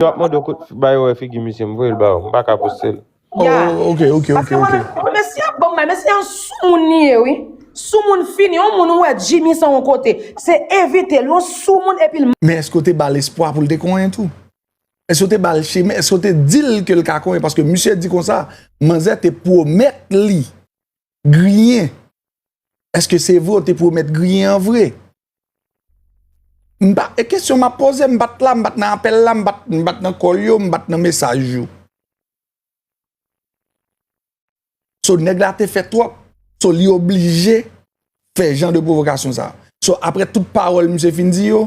Yo ap mande w kot ba yo wè figi misye m voye l ba ou m paka poste l. Oh ok ok ok ok. Mesye ap banm bay mesye yon soumoun li ye wi soumoun fini yon moun ou wè Jimmy san yon kote se evitel yon soumoun epil. Men eske w te bal espwa poul te konyen tou? Eske w te bal chemen eske w te dil kel ka konyen paske misye di konsa manzè te pwomèt li. griyen eske se vre ou te pwomèt griyen an vre m pa e kesyon m ap poze m pat la m pat nan apèl la m pat nan kòl yo m pat nan mesaj yo so nèg la te fè twòp so li oblije fè jan de pwovokasyon sa so aprè tout pawòl misye fin di yo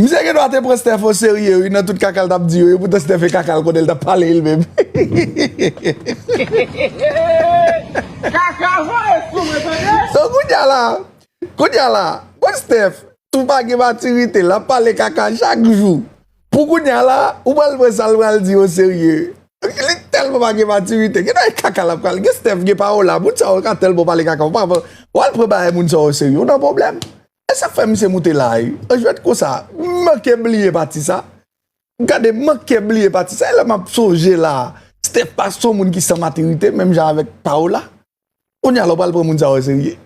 Misye gen dwa te pran Steph o serye wi nan tout kaka l tap di yo e poutan Steph e kaka l konnen l tap pale li menm. Kaka voye sou mwen tande. Donk kounya la, kounya la bon Steph tou pa gen matirite lap pale kaka chak jou pou kounya la ou pral pran sa l pral di o serye. Li tèlman pa gen matirite gen dwa e kaka lap pral gen Steph gen pawola moun sa yo ka tèlman pale kaka ou pa pran wal pran bagay moun sa yo o serye ou nan pwoblèm. Esak fè misye moute la ui. An jwèt konsa, m manke bliye pati sa. Gade m manke bliye pati sa, e lè map sonje la, Steppa son moun ki san matirite menm jan avèk Paola. Kounye a la w pral pran moun sa yo serye.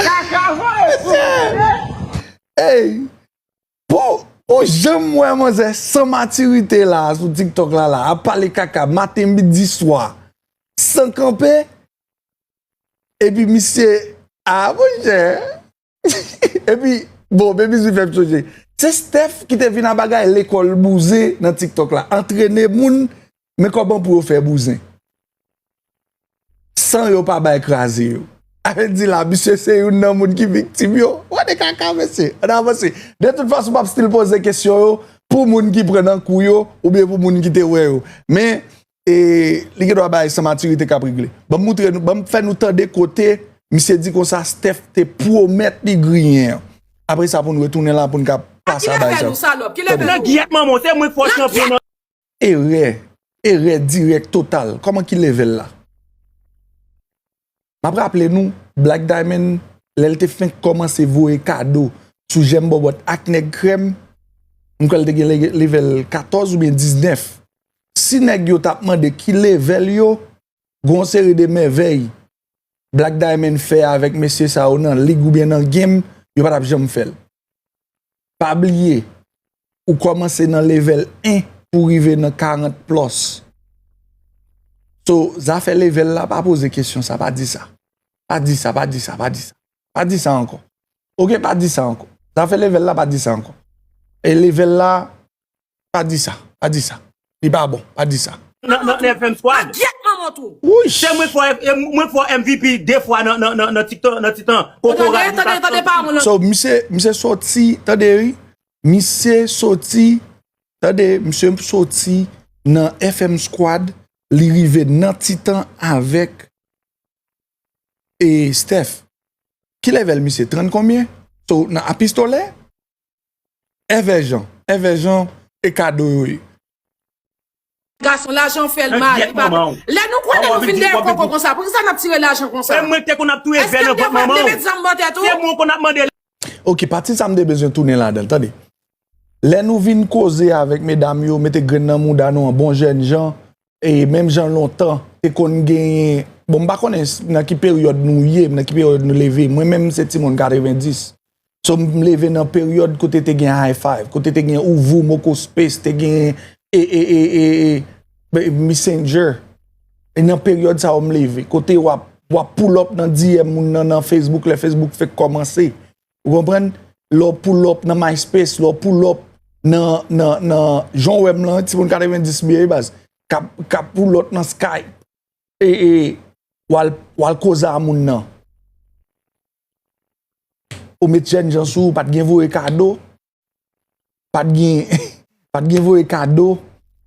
Kaka voye sou moun wi. Eyy Bon ou janm wè manzè san matirite la sou tiktok la la ap pale kaka maten midi swa san kanpe epi misye a monchè epi bon bebis li fèm sonje se Steph ki te vin a bagay lekòl bouzen nan tiktok la antrene moun Men koman pou yo fè bouzen San yo pa bay kraze yo Alex di la misye se youn nan moun ki viktim yo Wè de kaka mesye Ann avanse De tout fason m ap stil poze kesyon yo Pou moun ki pran nan kou yo Oubyen pou moun ki te wè yo Men e li gendwa bagay san matirite k ap regle Ban m moutre nou Ban m fè nou tande kote Misye di konsa Steph te pwomèt li griyen an Apre sa pou n retounen la pou n ka pase a bay sa Kilè fè nou salòp Kilè fè nou Nan gyèt manman w se mwen k fò w chanpyon nan. Erè, erè dirèk total. Kòman ki levèl la? Map raple nou, Black Diamond, lè l te fenk kòmanse voye kado sou jèm bòbòt ak nèg krèm, m kwè l te gen levèl 14 oubyen 19. Si nèg yo tap mande ki levèl yo, gon seri de mèvèy Black Diamond fè avèk mesye sa yo nan lig oubyen nan game, yo pa t ap janm fè l. Pa bliye, ou kòmanse nan level 1 pou rive nan 40 plus. So, zafè level la, pa poze kesyon sa, pa di sa. Pa di sa, pa di sa, pa di sa. Pa di sa ankò. Ok, pa di sa ankò. Zafè level la, pa di sa ankò. E level la, Pa di sa, pa di sa. Li pa bon, pa di sa. Nan nan nan FM squad. A gyèt manman tou. Wouyy. Se mwen fò mwen fò MVP 2 fwa nan nan nan tiktok nan titan. Ou tande tande tande pa moun. So misye misye soti tande wi. Misye soti tande misye soti nan FM squad li rive nan titan avèk e Steph. Ki level misye 30 konbyen? So nan a pistolè? Èvè jan, èvè jan e kado yo ye. Gason lajan fèl mal li pa gen. Lè nou konnen nou vin dèyè koko konsa poukisa nap tire lajan konsa. Eske m te vle met zam bò tèt ou. Ok pati sa m te bezwen tounen ladanl tande. Lè nou vin koze avèk medam yo mete grenn nan mouda nou an bon jèn jan E menm jan lontan, te konn genyen, bon m pa konnen nan ki peryòd nou ye, nan ki peryòd nou leve, mwen menm se ti moun 90, so m leve nan peryòd kote te gen high five, kote te gen ou voum, ou kou space, te gen e, e, e, e, e, e, messenger, e nan peryòd sa yo m leve, kote wap, wap poulòp nan DM moun nan nan Facebook, lè Facebook fèk kòmanse, Ou konprann? Lè w pull up nan MySpace, lè w pull up nan jan w wè m lan, ti moun 90 m ye wi baz, k ap pull up nan Skype e w al koze a moun nan. Ou met jènjan sou ou, pa t gen voye kado. Pat gen Pat gen voye kado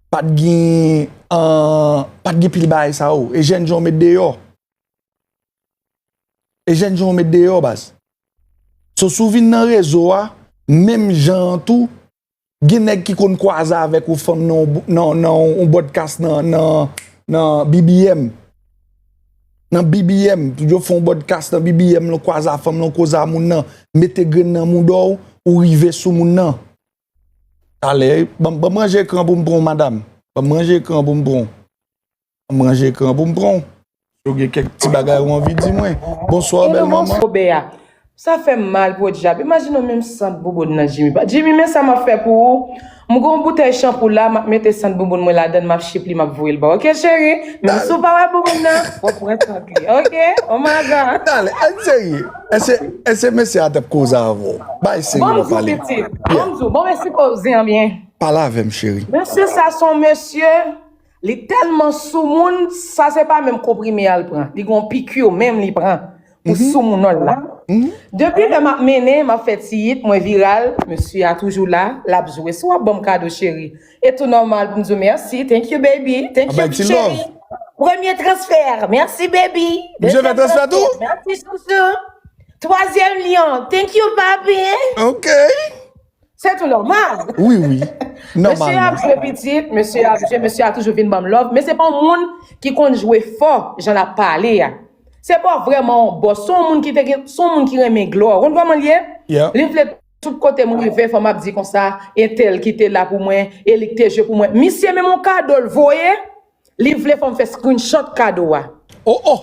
Pat gen an Pat gen pil bagay sa yo E jèn jan w met deyò E jèn jan w met deyò baz So si w vin nan rezo a menm jan an tou gen nèg ki konn kwaze avèk yon fanm nan yon nan yon bòdkas nan BBM nan BBM, yo fè yon bòdkas nan BBM lan, kwaza fanm lan, koza moun nan, mete grenn nan mouda w, ou rive sou moun nan. Talè, ban m ranje ekran pou m pran w madam, ban m ranje ekran pou m pran w, ban m ranje ekran pou m pran w. Si w gen kèk ti bagay ou anvi di mwen. Bonswa bèl manman. Sa fèm mal podyab imajine w menm sant bouboun nan Jimmy pa Jimmy men sa map fè pou ou m gon boutèy chanpou la map mete sant bouboun mwen ladann map chip li map voye l baw ok cheri menm si w pa wè bouboun nan wap pran sant li ok oh my god. Dale anh serye eske eske mesye a tap koze avè w bay seri wap pale Bonjou pitit Bonjou bon mesye koze an byen Pale avèm cheri. Mesye sa son mesye. Li telman soumoun sa se pa menm konprime al pran li gen yon piqur menm li pran pou soumounol la depi lè map mennen map fè ti hit mwen viral mesye a toujou la lap jwe si wap banm kado cheri e tou nòmal poum diw merci thank you baby thank you cheri premye transfè merci baby dezyèm transfè merci chouchou twazyèm lion thank you papi ok Se tou nòmal. Wi wi, nòmalman. Mesye ap jwe pitit, mesye ap jwe, mesye a toujou vin banm love, men se pa yon moun ki konn jwe fò jan lap pale a. Se pa vrèman yon bòs, se yon moun ki te gen, se yon moun ki renmen glwa. Ou konn kòman l ye? Li vle tout kote m rive fò map di konsa, entèl ki te la pou mwen, e li k te jwe pou mwen. Misye menm yon kado l voye. Li vle fòm fè screenshot kado a. Oh oh.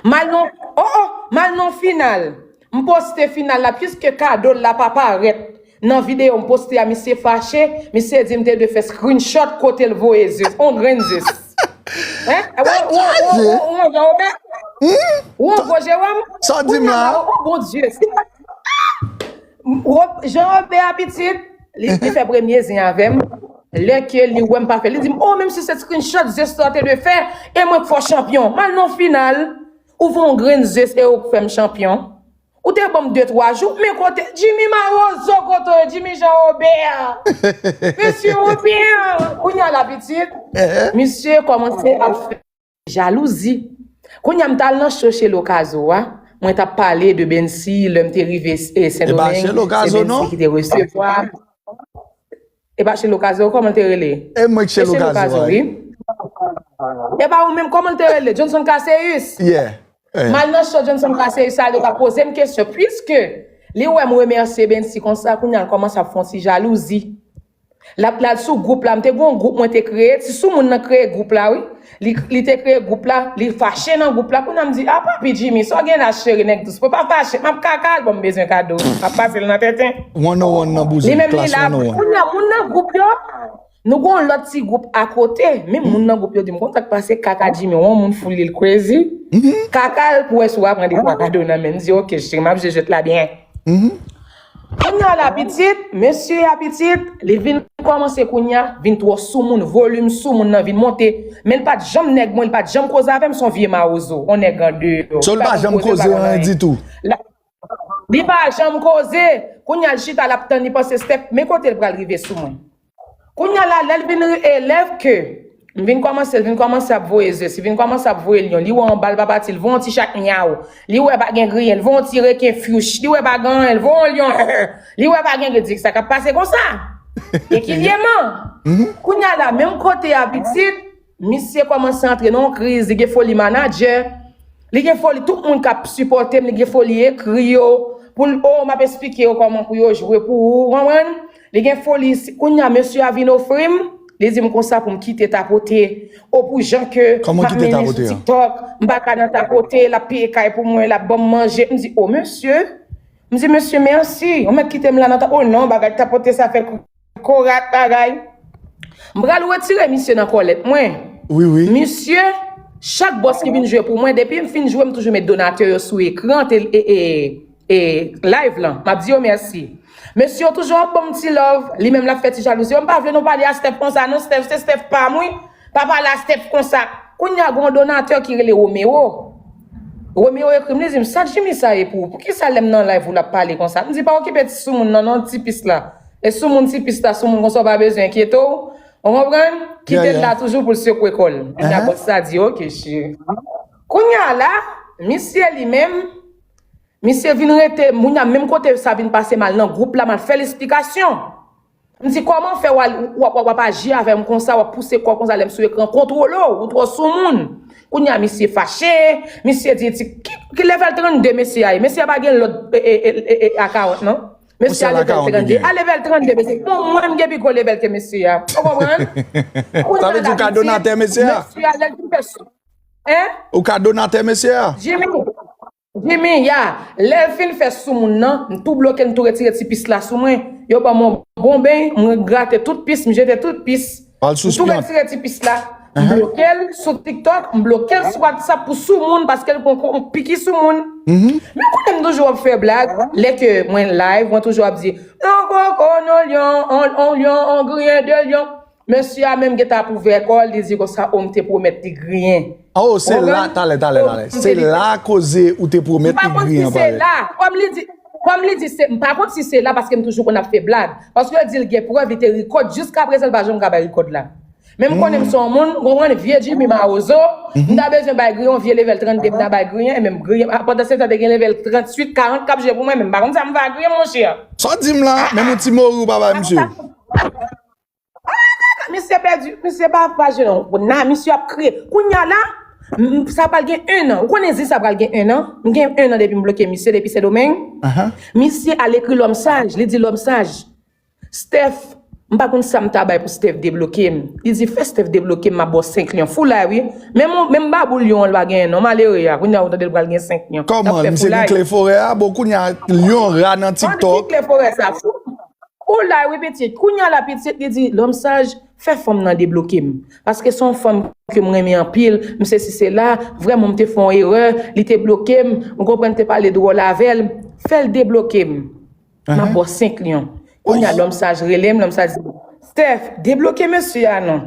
Mal non oh oh mal non final m poste final la puiske kado l la pa parèt nan video m poste a misye fache misye di m te dwe fè screenshot kote l voye zis on grenn zis hein ou on grann obè ou on gwo jewòm kounya la oh bon dye si pat Jean Robert a pitit. Li fè premye zen avèm lè ke li wèm pa fè li dim oh menmsi se screenshot Zesto te dwe fè e mwen k fè w chanpyon mal non final ou fè yon grenn zes e ou k fèm chanpyon ou te banm 2 3 jou men kote Jimmy marozo kote w ye Jimmy Jean Robert mesye Robert kounya la pitit misye kòmanse ap fè. Jalouzi. Kounya m t al nan show Shelo Kazo a, mwen t ap pale de Bensy, lè m te rive Sendomeng, se Bensy ki te resevwa m. E pa Shelo Kazo, kòman l te rele? E mwen k Shelo Kazo a. E pa ou menm, kòman l te rele? Johnson Casséus. M al nan show Johnson Casséus la, yo t ap poze m kesyon. Puiske li wè m remèsye Bensy konsa, kounya l kòmanse ap fè yon ti jalouzi. Lap lal sou group la m te gon group mwen te kreye ti sou moun nan kreye group la wi li te kreye group la li fache nan group la kounya m di a papi Jimmy sa w gen la cheri nèg dous mwen pa fache map kaka al bon m bezwen kado map pase l nan tenten li menm li la kounya moun nan group yo nou gon lòt ti group akote menm moun nan group yo di m konn sak pase kaka Jimmy w on moun fou li l crazy kaka l pou wè si w aprann 2 twa kado nan menm m di ok cheri map jwe jwèt la byen. Kounya la pitit, mesye ya pitit, li vin kòmanse kounya, vin twò soumoun, volim soumoun nan vin monte, menl pat janm nèg mwen, li pat janm koze avèm, son vye mawozo, on nèg andeyò, So li pa janm koze ou anyen ditou. Li pa janm koze, kounya l chita lap tann li panse step, men kotel pral rive sou mwen. Kounya la lèl vin ri elèv ke M vin kòmanse l vin kòmanse ap voye ze si vin kòmanse ap voye lyon li wè yon bal pa pati l voye yon ti chat myaw li wè pa gen griyen l voye yon ti reken fyouch li wè pa gen anyen l voye yon lyon hèè li wè pa gen gri di sa kap pase konsa ekilyeman kounya la menm kote a pitit Misye komanse antre nan yon kriz, li gen foli manadjè, li gen foli tout moun kap sipòtem, li gen foli ekri yo, poul oh map esplike yo kòman pou yo jwe pou ou, ou konprann? Li gen foli, kounya mesye a vin ofrim, li dim konsa poum kite tapote, oh pou jan ke map mennen sou tiktok, mpa ka nan tapote, lap peye kay pou mwen, lap banm manje, mdi oh mesye, mdi mesye merci, ou mèt kitem la nan tapote, oh non bagay tapote sa fè. Korat bagay. M pral retire misye nan kòlèt mwen. Wi wi. Misye, chak bòs ki vin jwe pou mwen depi m fin jwe m toujou met donatè yo sou ekran te e live lan. Map di yo mèsi. Mesye yo toujou ap banm ti love. Li menm lap fè ti jalouzi yo. M pa vle nou pale a Steph konsa non Steph se Steph pam wi. Papa lasteph konsa Kounya gon donateur ki rele Romero Romero ekrim li dim sak Jimmy sa ye pou ou poukisa lem nan live ou lap pale konsa mdi pa okipe ti soumoun nan non ti pis la e soumoun ti pis la soumoun konsa ou pa bezwen enkyete w ou konprann kitel la toujou poul sekwe kol kounya boss la di ok cheri kounya la misye li menm misye vin rete kounya menm kote sa vin pase mal nan group la mal fel esplikasyon. M di kòman fè wap aji avèm konsa wap pouse kòw konsa lèm sou ekran kontwole w ou twò soumoun kounya misye fache misye di ti ki level 32 mesye a ye mesye a pa gen lòt a 40 nan mesye a level 32 a level 32 mesye bon mwen m gen pi gwo level ke mesye a ou konprann sa vle di ou ka donatè mesye a ou ka donatè mesye a Jimmy, ya, lèl fin fè sou moun nan, m tou bloke m tou retire ti pis la sou mwen, yo banm yon bon beny, m grate tout pis, m jete tout pis, m tou retire ti pis la, m blokel sou tiktok, m blokel sou whatsapp pou sou moun paske l konn piki sou moun. Men kote m toujou ap fè blag, lè ke mwen live mwen toujou ap di, yon koko, yon lyon, yon lyon, yon griyen de lyon. Mesye a menm gentan ap ouvè kòl li di konsa oh m te pwomèt li griyen. Oh se la talè talè talè se la koze ou te pwomèt li griyen an pale. M pa konn si se la kòm li di kòm li di se m pa konn si se la paske m toujou konn ap fè blag paske yo di l gen prèv li te rikòd jiskaprezan l pa janm ka bay rikòd la men m konnen m son moun ou konprann vye Jimmy mawozo m ta bezwen bay griyen yon vye levèl 32 m ta bay griyen e menm griyen a pandan se tan te gen levèl 38 40 k ap jwe pou mwen men m pa konn sa m va griyen monchè. Sa w di m la menm yon ti mori ou pa bay misye. Misye pèdi, misye pa pa jwe non. Bon, na, misye ap kriye. Kounya la, m- sa pral gen 1 an. Ou konnen zi sa pral gen 1 an? M gen 1 an depi m bloke misye depi Sendomeng. Misye al ekri lòm saj, li di lòm saj, Steph, m pa konn sa m ta bay pou Steph debloke m. Li di fè Steph debloke m, m ap ba w 5 lyon. Foulay wi. Menm on, menm babou lyon an l pa genyen non, malere a. Kounya ou tande l pral gen 5 lyon. L ap Kòman, fè misye gen foulay. kle forè a? Bon kounya lyon ra nan An, ki TikTok. kle forè sa? Fou. Ou la wi pitit, kounya la pitit li di Lòm saj, fè fanm nan debloke m. Paske se yon fanm ke m renmen anpil, m sesi sela, vrèman m te fè yon erè, li te bloke m, ou konprann m te pale dwòl avè l, fè l debloke m. M ap ba w 5 lyon. Kounya Lòm saj rele m, Lòm saj di m, Steph, debloke mesye a non.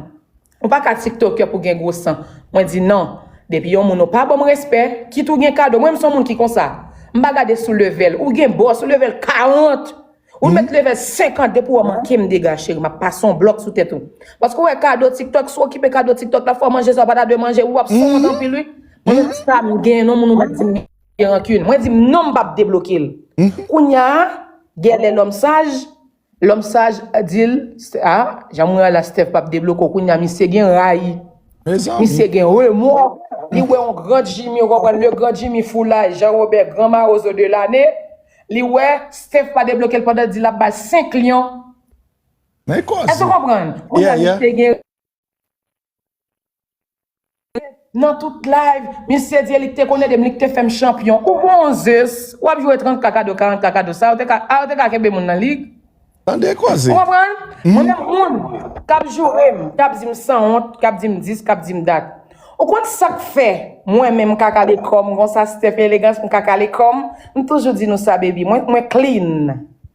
Ou pa ka tiktoker pou gen gwo san mwen di nan depi yon moun ou pa banm respè kit ou gen kado mwen m son moun ki konsa m pa gade sou level ou gen boss ou level 40 ou met level 50 depi wè manke m dega cheri map pase yon blòk sou tèt ou paske ou wè kado tiktok sou okipe kado tiktok la fò manje sa ou pa ta dwe manje wi wap sonwont anpil wi mwen menm sa m gen non moun ou pa dim gen rancune mwen dim non m pap debloke l kounya gèlè lòm saj. Lòm saj dil sa jan mwen ala Steph pap debloke w kounya misye gen rayi misye gen remò li wè yon grand Jimmy ou konprann le grand Jimmy foulay Jean Robert grand marozo de lane li wè Steph pa debloke l pandan di lap bal 5 lyon èske w konprann kounya misye gen Nan tout live misye di elik te konn edem lik te fèm chanpyon ou bon zus wap jwe 30 kaka do 40 kaka do sa a ou te ka kenbe moun nan lig Tande koze. Ou konprann? Mwen menm moun kap jourem, kap dim san wont, kap dim dis, kap dim dat. Ou konn sak fè mwen menm m ka kale kòm konsa Steph Elegans m ka kale kòm, m toujou di nou sa baby mwen mwen clean.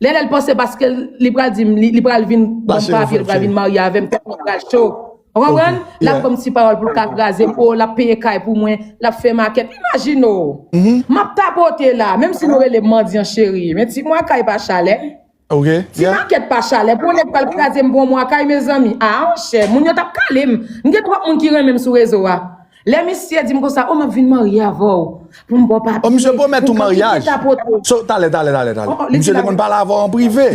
Lè lèl panse paske li pral dim li pral vin banm papye li pral vin marye avèm tèt mwen pral cho ou konprann lap banm ti pawòl poul ka krazem oh lap peye kay pou mwen lap fè makèt imajine ou map tapote la menm si nou relem mandyan cheri men ti mwa kay pa chalè ti makèt pa chalè pou yon nèg pral krazem pou yon mwa kay mezanmi ah chè moun yo tap kalem m gen twòp moun ki renmenm sou rezo a. Lè misye dim konsa oh map vin marye avèw poum baw papye. Oh misye pwomèt ou maryaj. So talè talè talè talè. Misye te konn pale avèw an prive.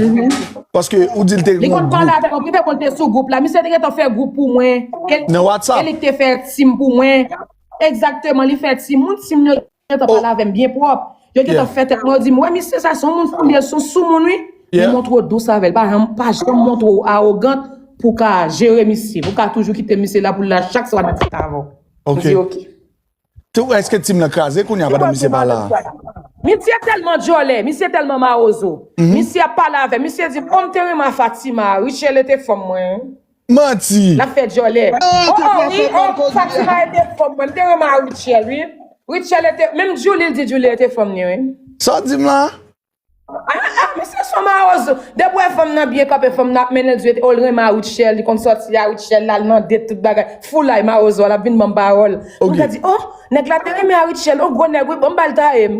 Paske ou dil te gen yon group. Li konn pale avèm an prive bon li te sou group la. Misye te gentan fè group pou mwen. Nan whatsapp. Elik te fè team pou mwen. Exactement li fè team. Moun team yo. gentan pale avè m byen pwòp, yo gentan fè tèt mwen, yo di m wè misye sa son moun foulye, son soumoun wi, men montre w dous avè l, pa janm, pa janm montre w awogant pou w ka jere misye, pou w ka toujou kite misye la pou l la chak swa nan ti tavè w. M di ok. Tou, èske tim lan kraze kounye a pandan misye pa la a? Misye tèlman djòlè, misye tèlman mawozo, misye ap pale avè m, misye di m, o m te renmen a Fatima, Richelle te fanm mwen. Manti. Lap fè dyòlè. Oh oh wi oh Fatima e te fòm mwen. M te renmen a Rutshelle wi. Rutshelle te menm Djoulie l di Djoulie e te fòm ni wi. Sa w di m la? Ah ah men se son mawozo. Depi w wè fanm nan byen kanpe fanm nan ap mennen l di oh l renmen a Rutshelle li konn sòti a Rutshelle l al nan date tout bagay. Foulay mawozo a lap vin ban m pawòl. M ka di oh nèg la te renmen a Rutshelle oh gwo nèg wi bon m ba l taye m.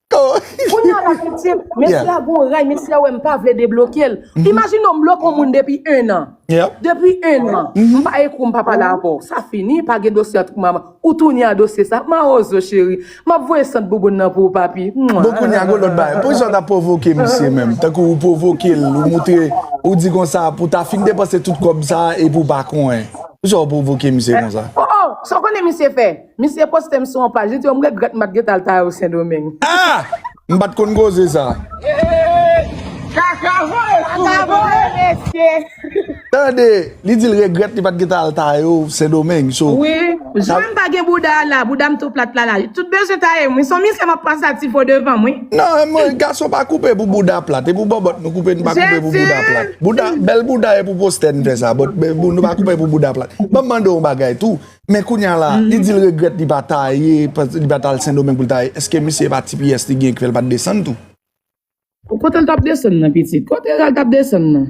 Kounye a la piti, mesye a gen yon ray, mesye a wè m pa vle debloke l. Imajine ou m bloke yon moun depi ennan. Depi ennan, m pa ekri w, m pa pale avè w. Sa fini, pa gen dosye ant mwen avè w. Ou tounen a dosye sa. Mawozo cheri, m ap voye sant bouboun nan pou ou papi. Bon kounye a gen yon lòt bagay. Pou kisa w t ap pwovoke misye menm? Tankou ou pwovoke l, ou montre, ou di konsa pou w ta fin depanse tout kòb sa a epi ou pa konnen. Pou kisa w pwovoke misye konsa? O, o, sa w konnen misye fè? Misye poste m sou yon paj, li di yo m regrèt m pat gentan al Tayo Sendomeng. Ah! M pat konn koze sa. Kaka voye sou mwen tande mesye. Tande, li di l regrèt li pat gentan al Tayo Sendomeng. So. Wi, jan m pa gen bouda a la, bouda m tou plat la la. Tout bezwen taye m wi. Son misye m ap pase a ti fo devan m wi. Non, mwen, gason pa koupe pou bouda plat. E pou bòbòt nou koupe nou pa koupe pou bouda plat. Bouda, bèl bouda e pou postè n fè sa. Bòt, nou pa koupe pou bouda plat. Ban m mande w yon bagay tou. Men kounya la, li di l regrèt li pa ta ye, li pa ta al Sendomeng pou l ta ye. Eske misye e pa ti pyès li gen ki fè l pa t desann tou? O kote l t ap desann nan pitit? Kote Eral t ap desann nan?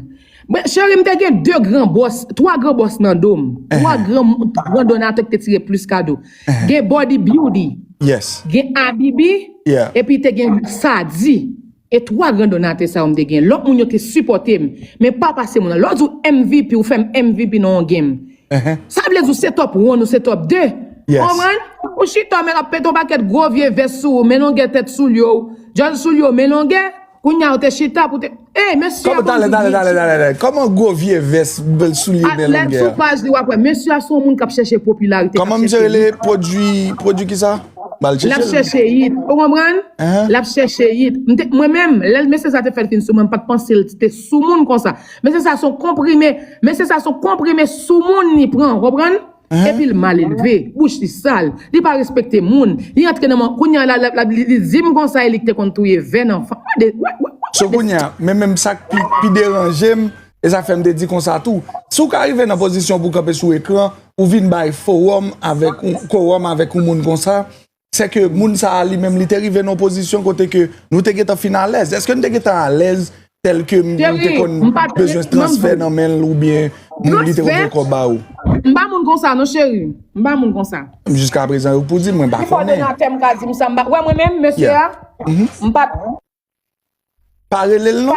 Men cheri m te gen 2 gran bòs, 3 gran bòs nan do m. 3 gran gran donatè ki te tire plis kado. Gen Body Beauty, gen Abibi epi te gen Sadi. E 3 gran donate sa yo m te gen. Lot moun yo te sipote m. Men pa pase moun. Lè w di w MVP ou fè m MVP nan yon game. Sa vle di w se top one ou se top 2. Ou konprann? Ou chita w men ap pete yon pakèt gwo vye vès sou ou men longue tèt soulye w. Dyòl soulye w men longue. Kounye a ou te chita pou te. Ey mesye a konn di vye timoun. Koman gwo vye vès soulye w men longue a? Sou paj li wap wè. Mesye a se yon moun kap chèche popularite kap chèche. Koman misye rele? Produit kisa? Lap chèche it ou konprann lap chèche it mwen menm lè mesye sa te fèl fin sou mwen pat pansel te sou moun konsa mesye sa son konprime mesye sa son konprime sou moun li pran ou konprann epil mal elve bouch li sal li pa respekte moun li antre nan man kounya la li dim konsa elik te konn touye vè nan fanm gade wè wè wè sou kounya men menm sak pi deranjem e sa fèm te di konsa tou sou ka rive nan pozisyon pou kanpe sou ekran ou vin bay forum avèk ou korum avèk ou moun konsa, se ke moun sa a li menm li te rive nan pozisyon kote ke nou te getan fin alèz. Eske nou te getan alèz tèl ke moun te kon bezwen se transfè nan men l ou byen moun li te kon fè kò ba ou? M pa moun konsa non cheri, m pa moun konsa. Jiska prezan ou k pou di m, mwen pa konnen. Ki kòdonatè m ka di m sa m pa, wè mwen menm mesye a, m pa. Pa rele l non.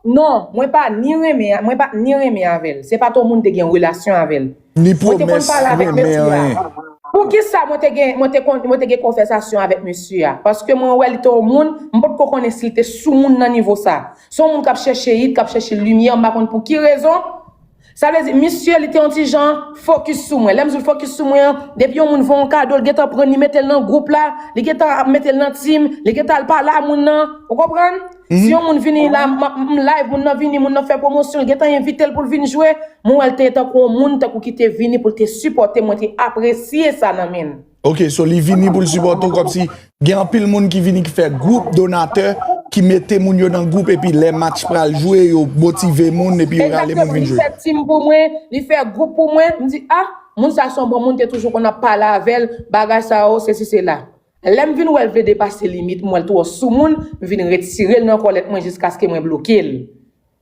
Non, mwen pa ni renmen, mwen pa ni renmen avè l. Se pa to moun te gen relasyon avè l. Ni pwomès renmen anyen. Poukisa mwen te gen, mwen te konn, mwen te gen konvèsasyon avèk mesye a? Paske mwen wè li te yon moun, m pa t ko konnen si li te soumoun nan nivo sa. Se yon moun k ap chèche it, k ap chèche limyè, m pa konn pou ki rezon. Sa vle di, misye li te yon ti jan fokis sou mwen. Lè m di l fokis sou mwen an, depi yon moun fè w yon kado, li gen tan pran li mete l nan gwoup la, li gen tan ap mete l nan team, li gen tan al pale a moun nan. Ou konprann? Si yon moun vini la, m ap m live, moun nan vini, moun nan fè pwomosyon, li gen tan envite l pou l vin jwe. Mwen wè l te tankou yon moun tankou ki te vini pou l te sipòte m, mwen te apresye sa nan men l. Ok so li vini poul sipòte w kòmsi gen anpil moun ki vini ki fè gwoup donatè ki mete moun yo nan gwoup epi lè match pral jwe yo motive moun epi yo rale moun vin jwe. Exactement li fè team pou mwen li fè group pou mwen m di ah moun sa son bon moun te toujou konn ap pale avèl bagay sa yo sesi sela lèm vin wèl vle depase limit m wèl twò soumoun m vin retirel nan kòlèt mwen jiskaske mwen blokel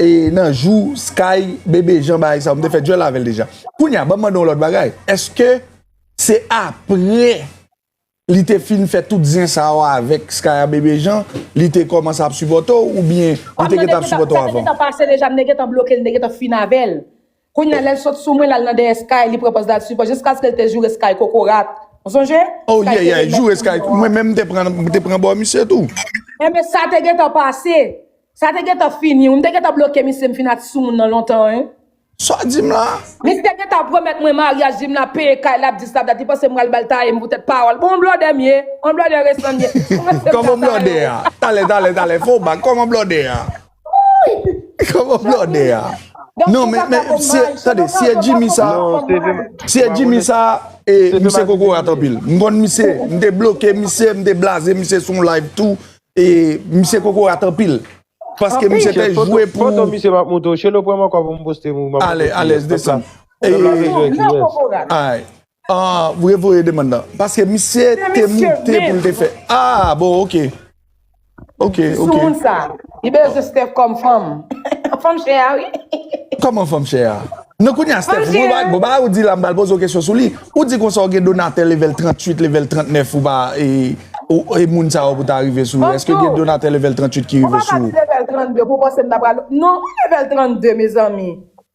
E nan jou sky bebe jan bagay sa ou m te fè duel avèl deja kounya banm mande yon lòt bagay eske se aprè li te fin fè tout zen sa yo avèk sky a bebe jan li te kòmanse ap sipòte w oubyen li te gentan ap sipòte w avan. Sa te gentan pase deja m te gentan blokel m te gentan fin avèl Kounya lèl sot sou mwen lal nan dèyè sky li pran pòz lal sipò jiskaske l te joure sky kokorat ou sonje Oh yeah yeah joure sky tou mwen menm m te pran m te pran bò misye tou. Enben sa te gentan pase, sa te gentan fini wi, m te gentan bloke misye m fin a ti soumoun nan lontan wi. Sa w di m la? Li te gentan pwomèt mwen maryaj di m lap peye kay lap dis lap dat li panse m pral bal taye m pou tèt pawòl bon blòdè m ye, on blòdè resan m ye, kòmanse m ka taye w. Kòman blòdè a? Talè talè talè fè w bak kòman blòdè a? Wouyy Koman blòdè a Non men men si e tande si e Jimmy sa Si e Jimmy sa e misye kokorat anpil M konn misye m te bloke misye m te blaze misye sou yon live tou e misye kokorat anpil Paske misye te jwe pou Foto misye map montre w Shelo pran m ankò pou m poste m ou Alèz desann Alèz Ahh ou revoye demand lan. Paske misye te moute pou l te fè. Ahh bon ok. Ok ok. Sou moun sa. Li bezwen Steph kòm fanm. Fanm chè a wi. Kòman fanm chè a? Non kounye a Steph. Fanm chè a. Bon bagay ou di la m pral poze w kesyon sou li. Ou di konsa ou gen donatè level 38 level 39 ou pa e moun sa yo pou ta rive sou ou. Fanm chè a. Eske gen donatè level 38 ki rive sou ou? Ou pa ka di level 32 pou w panse m ta pral. Non ki level 32 mezanmi.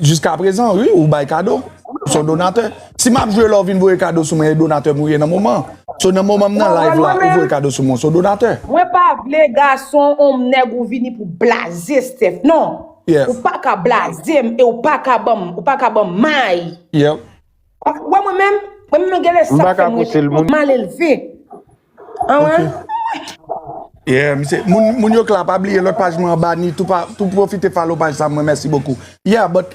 Jiska prezan wi ou bay kado ou son donatè. Si map jwe la ou vin voye kado sou mwen e donatè mwen ye nan moman. So nan moman m nan live la ou voye kado sou mwen ou son donatè. Mwen pa vle gason ou m nèg ou vini pou blaze Steph non. Ou pa ka blaze m e ou pa ka banm ou pa ka banm may. Ou wè mwen menm mwen menm gen lè sa fè m rete mal elve. Yeah misye moun yo k la pa bliye lòt paj mwen anba ni tou pwofite follow paj sa mwen mèsi bokou yeah but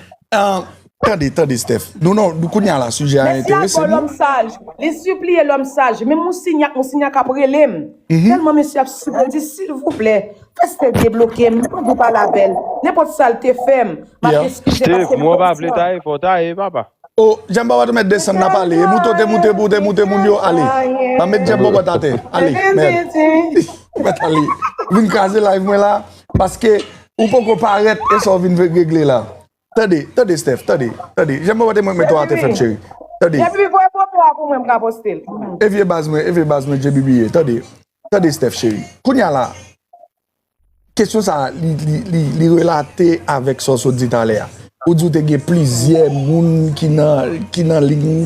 tande tande Steph nou non kounya la sijè a enterese nou. Mèsi ankò lòm saj li sipliye lòm saj menm moussignac moussignac ap rele m tèlman mesye ap sipliye l di silvouplè fè Steph debloke m mwen vle pale avè l nenpòt sa l te fè m m ap eskize l paske m kontan. Steph mwen pa vle taye fò taye papa. Oh djam bòbòt ou mèt desann nap ale e mouton te moute pou te moute moun yo ale map met djam bòbòt atè ale mèd ou mèt ale vin kraze live mwen la paske ou poko parèt e sa ou vin regle la tande tande Steph tande tande djam bòbòt e mwen k met ou atè frèm cheri tande JB voye foto a pou mwen m ka poste l e vye baz mwen e vye baz mwen JB ye tande tande Steph cheri kounya la Kesyon sa a, li relate avèk sa w sot di talè a. Ou di w te gen plizyè moun ki nan liy.